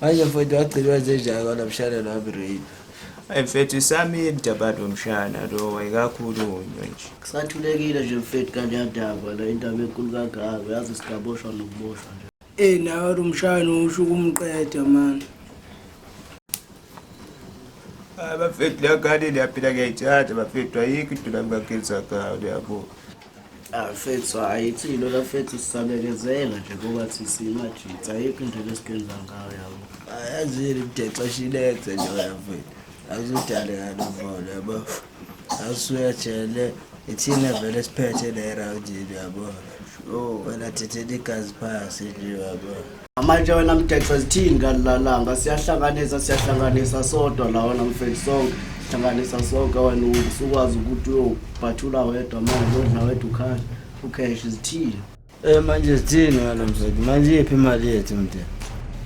manje mfowethu wagcilwa njenjani kona mshana nami rape ayi mfethu isamile dabadi womshana lo wayekakhulunywe nje kusathulekile nje mfethu kanjani daba la indaba enkulu kangaka yazi sigaboshwa nokuboshwa nje Ey nawe Rumshana usho ukumqeda mani. Ah, bafethu la ngane liyaphila ngiyayithanda bafethu ayikho into nami ngakhetha ngayo liyabo. Afethu ah, hayi thina lafethu sisabekezela nje ngoba sisimajitha ayikho into lesikwenza ngayo yabo. Ayazini mdexesha ilethe nje bafethu. Akuzudale kanuvolo yabo. awusuyajele ithina vele siphethe la erawundini uyabo o oh, wena thethela igazi phasi nje uyabo manje wena mdexo zithini kalilalanga siyahlanganisa siyahlanganisa sodwa la wena mfethu sonke sihlanganisa sonke wena usukwazi ukuthi uyobhathula wedwa manje odla wedwa ukhale ukheshi zithini Eh manje sithini ngalo mseki? Manje iphi imali yethu mntwana?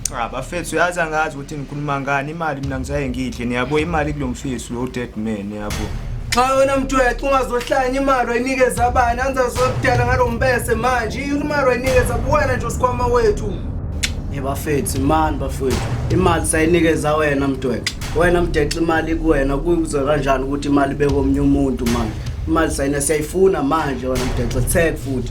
Cha bafethu uyazi angazi ukuthi nikhuluma ngani imali mina ngisaye ngidle niyabo imali kulo mfisi lo dead man yabo. Cha wena mtwethu ungazohlanya imali wayinikeza abani anzazodala ngalo mbese manje imali wayinikeza kuwena nje usikhwama wethu. Yebafethu imani bafethu imali sayinikeza wena mtwethu. Wena mdexi imali kuwena kuze kanjani ukuthi imali bekomnye umuntu manje. Imali sayina siyayifuna manje wena mdexi tag futhi.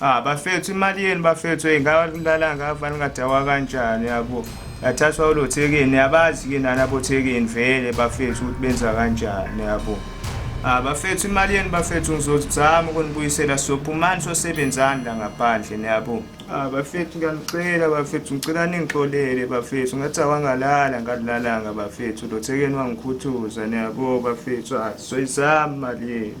Ah, bafethu imali yenu bafethu hey ngawalala ngava ningadawa kanjani yabo yathathwa ulothekeni yabazi ke nani abothekeni vele bafethu ukuthi benza kanjani yabo Ah, bafethu imali yenu bafethu ngizozama ukunibuyisela sophumani sosebenzani la ngaphandle niyabo Ah bafethu ngiyanicela bafethu ngicela ningixolele bafethu ngathi awangalala ngalilalanga bafethu lothekeni wangikhuthuza niyabo bafethu ah soyizama mali yenu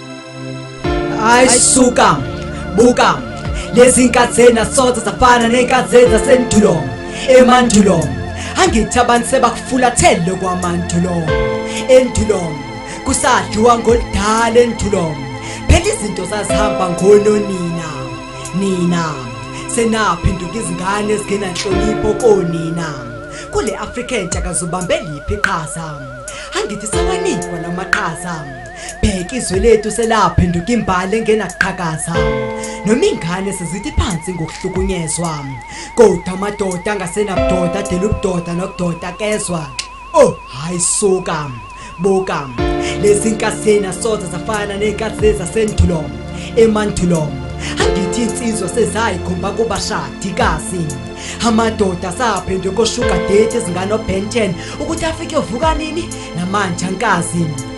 Hayi suka buka lezi nkathi zena soze zafana nenkathi zeza sendulo emandulo angithi abantu sebakufulathele kwamandulo endulo kusadliwa ngoludala endulo phela izinto zazihamba ngononina nina senaphenduka izingane ezingenanhlonipho konina kule afrika entsha kazubambe liphi iqhaza angithi sawanikwa lamaqhaza bheka izwe lethu selaphenduka imbali engenaqhakaza noma ingane sizithi phansi ngokuhlukunyezwa kodwa amadoda angasenabudoda adela ubudoda nokudoda kezwa oh hayi suka buka lezi nkasena soze zafana ney'nkathi zasendulo emandulo angithi insizwa sezayikhomba kubashadikazi amadoda asaphendwe koshuga date ezinganobenten ukuthi afike uvuka nini namanje ankazi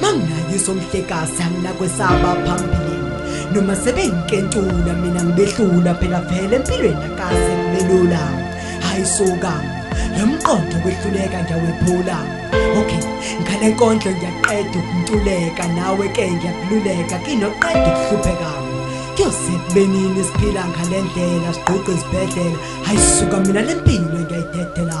mangingayiso mhlekazi anginakwesaba phambili noma sebenkentula mina ngibehlula phela vele empilweni akaze ngibelula hayi suka lo mqondo kwehluleka ngiyawephula okay ngale nkondlo ngiyaqeda ukuntuleka nawe ke ngiyakululeka kinoqeda ukuhlupheka kuyoze kubenini siphila ngale ndlela sigqugqa izibhedlela hayi suka mina le mpilo ngiyayidedela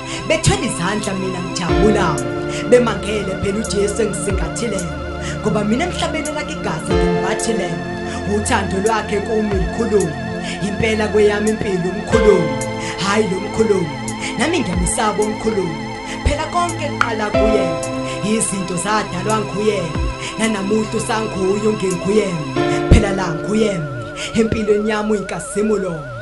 bethwele izandla mina ngijabula bemangele phela ujesu engisingathile ngoba mina emhlabeni elakhe igazi ngimbathile uthando lwakhe kumi likhulumu impela kweyami impilo umkhulumu hhayi lo mkhulumu nami ngiyamesaba umkhulumu phela konke kuqala kuye izinto zadalwa nguye nanamuhla usanguye ungenguye phela la nguye empilweni yami uyinkazimulo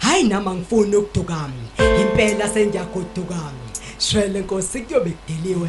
Hayi nami angifuni ukuduka. Impela sengiyagoduka. Shwele Nkosi kuyobe kudeliwe.